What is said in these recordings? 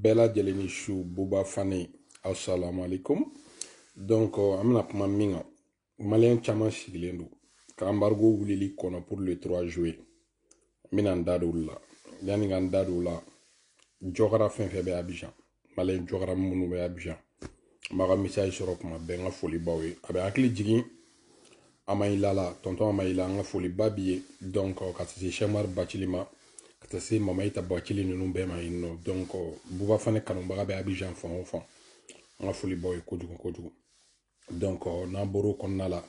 bɛɛ lajɛlen ni su buba fane assalamu alaikum donc an bɛna kuma min kan maliyɛn caman sigilen don ka embargo wulili kɔnɔ pour le 3 juillet n bɛna n da don olu la yanni n ka n da don o la jɔkara fɛn fɛn bɛ abijan maliyɛn jɔkara minnu bɛ abijan n b'aw ka message sɔrɔ kuma bɛɛ n ka foli b'aw ye a bɛ hakili jigin amayila la tɔntɔn amayila an ka foliba b'i ye donc ka taa se sɛmari bacili ma ka taa se mamayita bacili ninnu bɛɛ ma yen nɔ donc buba fane kanubaga bɛ abijan fan o fan an ka foli b'aw ye kojugu kojugu donc n'an bɔr'o kɔnɔna la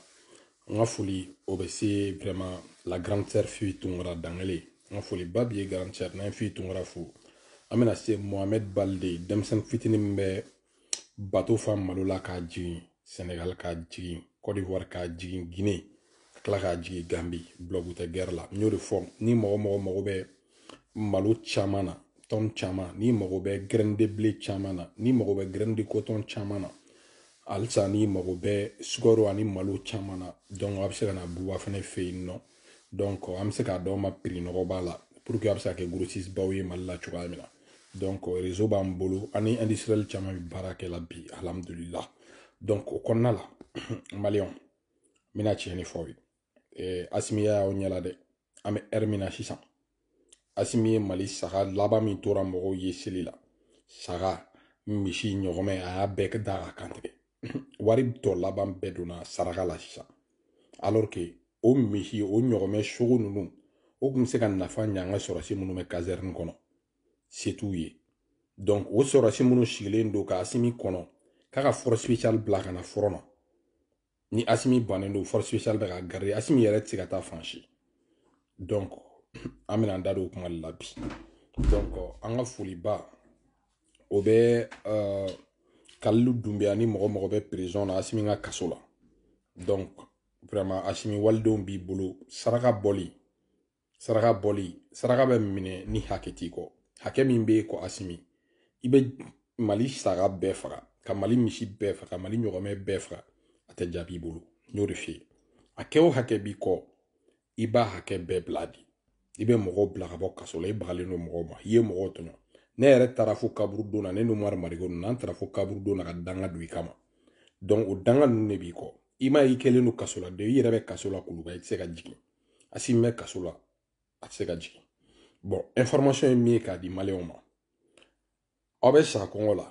n ka foli o bɛ se vraiment la grande sœur fili tunkara dangele n ka foliba b'i ye grande sœur n'an ye fili tunkara fo an bɛna se mohamɛd balde denmisɛnnin fitinin min bɛ bato fa malo la k'a jigin sɛnɛgali k'a jigin kɔdiwari k'a jigin gine ka tila k'a jigin gambi bulɔgu tɛ gɛrɛ la n y'o de fɔ ni mɔgɔ mɔgɔ mago bɛ malo caman na tɔn caman n'i mago bɛ grain de blé caman na n'i mago bɛ graine de coton caman na halisa n'i mago bɛ sukaro ani malo caman na a bɛ se ka na buba fane fɛ yen nɔ donc an bɛ se k'a d'aw ma prix nɔgɔba la pour que a bɛ se ka kɛ grossiste baw ye mali la cogoya min na donc réseau b'an bolo an ni industriel caman bɛ baara kɛ la bi alhamdulila donc o kɔnɔna la maliyɛnw n bɛna tiɲɛ de fɔ aw ye asimiya y'aw ɲɛ la dɛ an bɛ heure min na sisan asimi ye mali saga laban min tora mɔgɔw ye seli la saga misi ɲɔgɔmɛ a y'a bɛɛ da k'a kan tigɛ wari tɔ laban bɛɛ donna saraka la sisan alors que o misi o ɲɔgɔmɛ sogo ninnu o tun bɛ se ka nafa ɲɛ an ka sɔrɔsi minnu bɛ kazɛrini kɔnɔ se t'u ye donc o sɔrɔsi minnu sigilen don ka asimi kɔnɔ k'a ka force spéciale bila ka na front na ni asimi bannen don force spéciale bɛ k'a garder asimi yɛrɛ tɛ se ka taa fan si donc an bɛna an da don o kuma de la bi donc an ka foliba o bɛ uh, kalilu dunbiya ni mɔgɔ mɔgɔ bɛ prison na asimi ka kaso la donc vraiment asimi walidenw b'i bolo saraka bɔli saraka bɔli saraka bɛ minɛ ni hakɛ t'i kɔ hakɛ min b'e kɔ asimi i bɛ mali saga bɛɛ faga ka mali misi bɛɛ faga ka mali ɲɔgɔmɛ bɛɛ faga a tɛ jaabi i bolo n y'o de f'i ye hakɛ o hakɛ b'i kɔ i b'a hakɛ bɛɛ bila di i bɛ mɔgɔw bila ka bɔ kaso la i bagalen don mɔgɔw ma i ye mɔgɔw tɔɲɔ ne yɛrɛ taara fo kaburudon na ne n'umaru mariko ninnu an taara fo kaburudon na ka danga don i kama donc o danga ninnu de b'i kɔ i m'a ye i kɛlen don kaso la de i yɛrɛ bɛ kaso la kuluba i tɛ se ka jigin asimi bɛ kaso la a tɛ se ka jigin bɔn information ye min ye k'a di maliyɛnw ma aw bɛ sa kɔngɔ la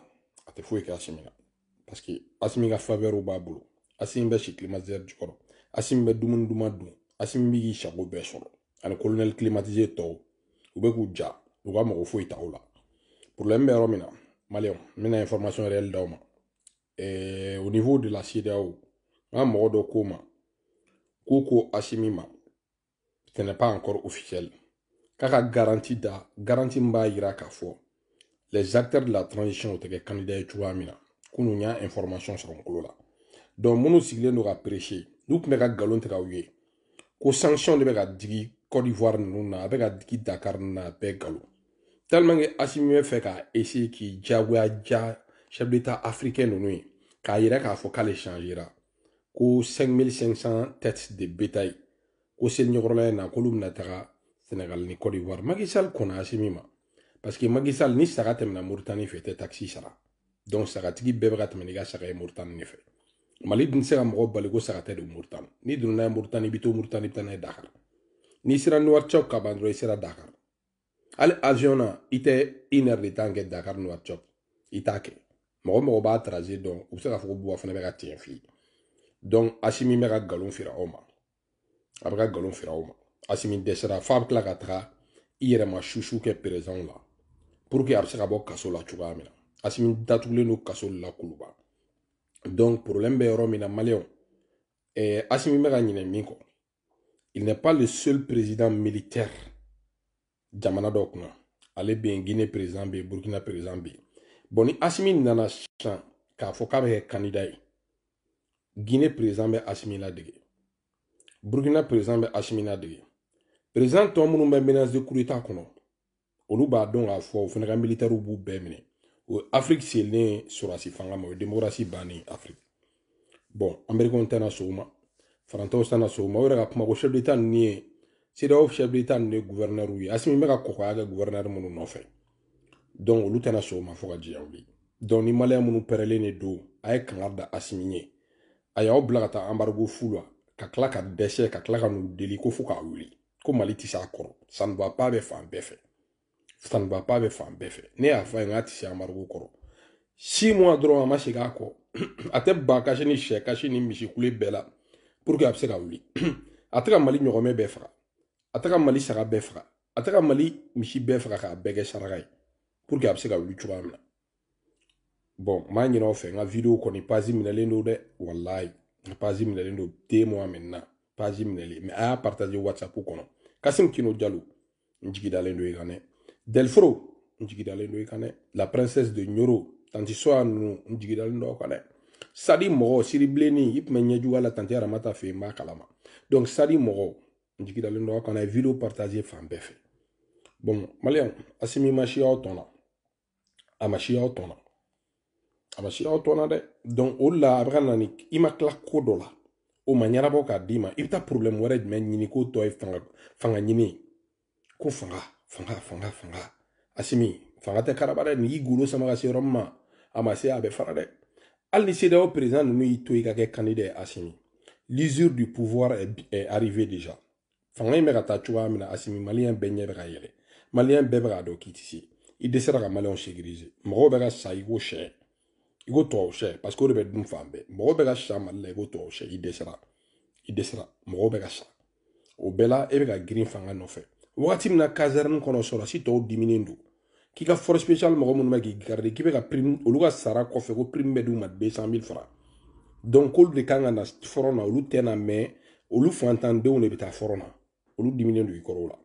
a tɛ foyi kɛ asimi na parce que asimi ka faveur b'a bolo asimi bɛ si climatiseur jukɔrɔ asimi bɛ dumuni duman dun asimi bɛ k'i sago bɛɛ sɔrɔ ani colonel climatisé tɔw u bɛ k'u ja u ka mɔgɔ foyi t'u la problème bɛ yɔrɔ min na maliyɛnw n bɛna information réelle d'aw ma eh, au niveau de la CEDEAO n ka mɔgɔ dɔ ko n ma k'u ko asimi ma ce n'est pas encore officiel k'a ka garanti da garanti min b'a jira k'a fɔ les acteurs de la transition u tɛ kɛ candidat ye cogoya min na kunun y'a information sɔrɔ n tulo la donc minnu sigilen don ka prêcher n'u tun bɛ ka nkalon tigɛ aw ye ko sanction de bɛ ka digi Côte d'Ivoire ninnu na a bɛ ka digi Dakar ninnu na a bɛɛ nkalon tellement que Assimi bɛ fɛ ka essayer k'i diyagoya diya chef d'état africain ninnu ye k'a yira k'a fɔ k'ale changera ko 5500 têtes de bétail ko seli ɲɛkɔrɔla in na k'olu bɛna taga Sénégal ni Côte d'Ivoire Macky Sall kɔnna Assimi ma parce que Macky Sall ni saga tɛmɛna Mauritanie fɛ tɛ taxe sara donc sagatigi bɛɛ bɛ ka tɛmɛ n'i ka saga ye moritani de fɛ mali dun tɛ se ka mɔgɔ bali ko saga tɛ don moritani n'i donna n'a ye moritani i bɛ to moritani i bɛ taa n'a ye dakar n'i sera nouakchott ka ban dɔrɔn i sera dakar hali avion na i tɛ une heure de temps kɛ dakar nouakchott i t'a kɛ mɔgɔ o mɔgɔ b'a trajet dɔn u bɛ se k'a fɔ ko bouba fané bɛ ka tiɲɛ f'i ye donc asimi bɛ ka nkalon feere aw ma a bɛ ka nkalon feere aw ma asimi dɛsɛra f'a bɛ tila ka taga i yɛrɛ ma susu kɛ président la pour que a bɛ se ka bɔ kaso la cogoya min na asimi datugulen don kaso la kuluba donc problème bɛ yɔrɔ min na maliyɛnw eh, asimi bɛ ka ɲinɛ min kɔ il n'est pas le seul président militaire jamana dɔ kunna ale bɛ yen guinée président bɛ yen burkina président bɛ yen bɔn ni asimi nana sisan k'a fɔ k'a bɛ kɛ kandida ye guinée président bɛ asimi ladege burkina président bɛ asimi ladege président tɔ minnu bɛ menace de coup d'état kɔnɔ olu b'a dɔn k'a fɔ o fana ka militaires b'u bɛɛ minɛ o ye afiriki selen ye sɔrɔdasi fanga ma o ye demokarasi bannen ye afiriki bɔn amerikɛnw tɛna sɔn o ma faransɛw tɛna sɔn o ma o yɛrɛ ka kuma ko chef d'état ninnu ye CEDEAO chef d'état ninnu ye guvɛrinɛriw ye asimi bɛ ka kɔkɔya kɛ guvɛrinɛri minnu nɔfɛ dɔnku olu tɛna sɔn o ma fo ka diɲɛ wuli dɔnku ni maliyɛn minnu pɛrɛlen de don a ye kangari da asimi ye a y'aw bila ka taa embargo fu la ka tila ka dɛsɛ ka tila ka n'u deli ko fo k'a wuli ko mali tɛ se a kɔrɔ ça ne va pas bɛ fan bɛɛ fɛ ça ne va pas bɛ fan bɛɛ fɛ ne y'a fɔ a ye k'a tɛ se embargo kɔrɔ six mois dɔrɔn a ma segin a kɔ a tɛ ba kasi ni sɛ kasi ni misi kule bɛɛ la pour que a bɛ se ka wuli a tɛ ka mali ɲɔgɔmɛ bɛɛ faga a tɛ ka mali saga bɛɛ faga a tɛ ka mali misi bɛɛ faga k'a bɛɛ kɛ saraka ye pour que a bɛ se ka wuli cogoya min na bon n b'a ɲini aw fɛ n ka video kɔni page minɛlen don dɛ walayi n ka page minɛlen don deux mois maintenant page minɛlen mais a y'a partager whatsapp kɔnɔ kasim kino jalo n jigidalen don i kan dɛ delfro n jigidalen don i kan dɛ la princesse de ɲoro tanti soya nunu n jigidalen don aw kan dɛ sadi mɔgɔ siri bilenni i tun bɛ ɲɛjuguya la tanti aramata fɛ yen n b'a kalama donc sadi mɔgɔ n jigidalen don aw kan dɛ video partager fan bɛɛ fɛ bon maliyɛn asimi ma si aw tɔn na a ma si aw tɔn na a ma si aw tɔn na dɛ donc o de la a bɛ ka na ni i ma tila ko dɔ la o ma ɲɛnabɔ k'a d'i ma i bɛ taa problème wɛrɛ jumɛn ɲini k'o tɔ ye fanga fanga ɲini ko fanga fanga fanga fanga asimi fanga tɛ karaba dɛ n'i y'i golo sama ka se yɔrɔ min ma a ma se a bɛ fara dɛ hali ni CEDEAO président ninnu y'i to i ka kɛ candidat ye asimi l'usure du pouvoir est, est arrivée déjà fanga in bɛ ka taa cogoya min na asimi maliyɛn bɛɛ ɲɛ bɛ ka yɛlɛ maliyɛn bɛɛ bɛ k'a dɔn k'i tɛ se i dɛsɛra ka maliyɛnw sécuriser mɔgɔw bɛ ka sa i ko sɛ i ko tubabu sɛ parce que o de bɛ dun fan bɛɛ mɔgɔw bɛ ka sa mali la i ko tubabu sɛ i dɛsɛra i dɛsɛra mɔgɔw bɛ ka sa o bɛɛ la e bɛ ka girin fanga nɔfɛ wagati min na caserne kɔnɔ sɔrɔsi tɔw diminen don k'i ka force spéciale mɔgɔ minnu bɛ k'i garder k'i bɛ ka prime olu ka sara kɔfɛ ko prime bɛ d'u ma 200 000 francs donc k'olu de kan ka na front na olu tɛ na mais olu fantandenw de bɛ taa front na olu diminnen don i kɔrɔ o la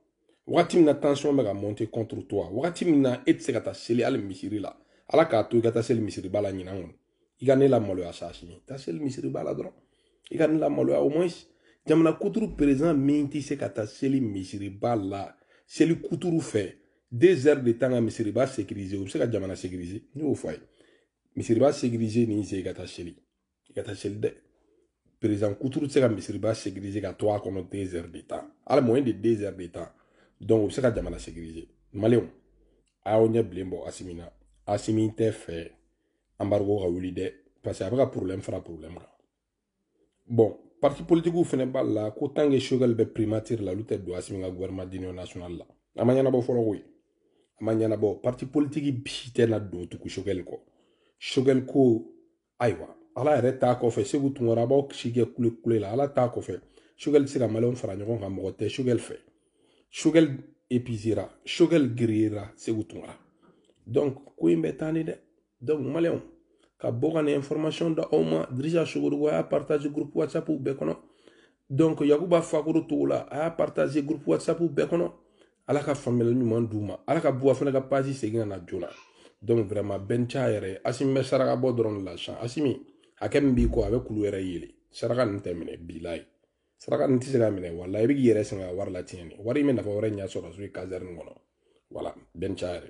wagati min na tension bɛ ka monter contre toi wagati min na e tɛ se ka taa seli hali misiri la ala k'a to i ka taa seli misiriba la ɲinan kɔni i ka ne lamaloya sa asimi taa seli misiriba la dɔrɔn i ka ne lamaloya au moins jamana kuturu président min tɛ se ka taa seli misiriba la seli kuturu fɛ deux heures de temps ka misiriba sécuriser o bɛ se ka jamana sécuriser ne y'o fɔ a ye misiriba sécuriser ni se i ka taa seli i ka taa seli dɛ président kuturu tɛ se ka misiriba sécuriser ka to a kɔnɔ deux heures de temps hali moins de deux heures de temps donc o bɛ se ka jamana sécuriser maliyɛnw a y'aw ɲɛ bilen bɔ asimi na asimi tɛ fɛ embargo ka wuli dɛ parce que a bɛ ka problème fara problème kan bon parti politiquew fana b'a la ko tant que sogɛli bɛ primature la olu tɛ don asimi ka gouvernement d'union nationale la a ma ɲɛnabɔ fɔlɔ koyi a ma ɲɛnabɔ parti politique bi tɛna don tugu sogɛli kɔ sogɛli ko ayiwa ala yɛrɛ t'a kɔfɛ seku tunkara a b'aw si kɛ kule kule la ala t'a kɔfɛ sogɛli tɛ se ka maliyɛnw fara ɲɔgɔn kan mɔgɔ tɛ sogɛli fɛ sogɛl épuisera sogɛl grillera seku tunkara donc ko in bɛ taa ni dɛ donc maliyɛnw ka bɔ ka nin information da aw ma dirisa sogodogo a y'a partager groupe whatsapp bɛɛ kɔnɔ donc yakuba fakoro togola a y'a partager groupe whatsapp bɛɛ kɔnɔ ala ka faamuyali ɲuman d'u ma ala ka buwa fana ka page segin ka na joona donc vraiment bɛn ca yɛrɛ asimi bɛ saraka bɔ dɔrɔn de la sisan asimi hakɛ min b'i kɔ a bɛ kulu yɛrɛ yeelen saraka nin tɛ minɛ bilayi saraka nin tɛ se ka minɛ wala i bɛ k'i yɛrɛ sɛgɛn ka wari latiɲɛ de wari in bɛ nafa wɛrɛ ɲɛ sɔrɔsiw ye caserne kɔnɔ voilà bɛn caya yɛrɛ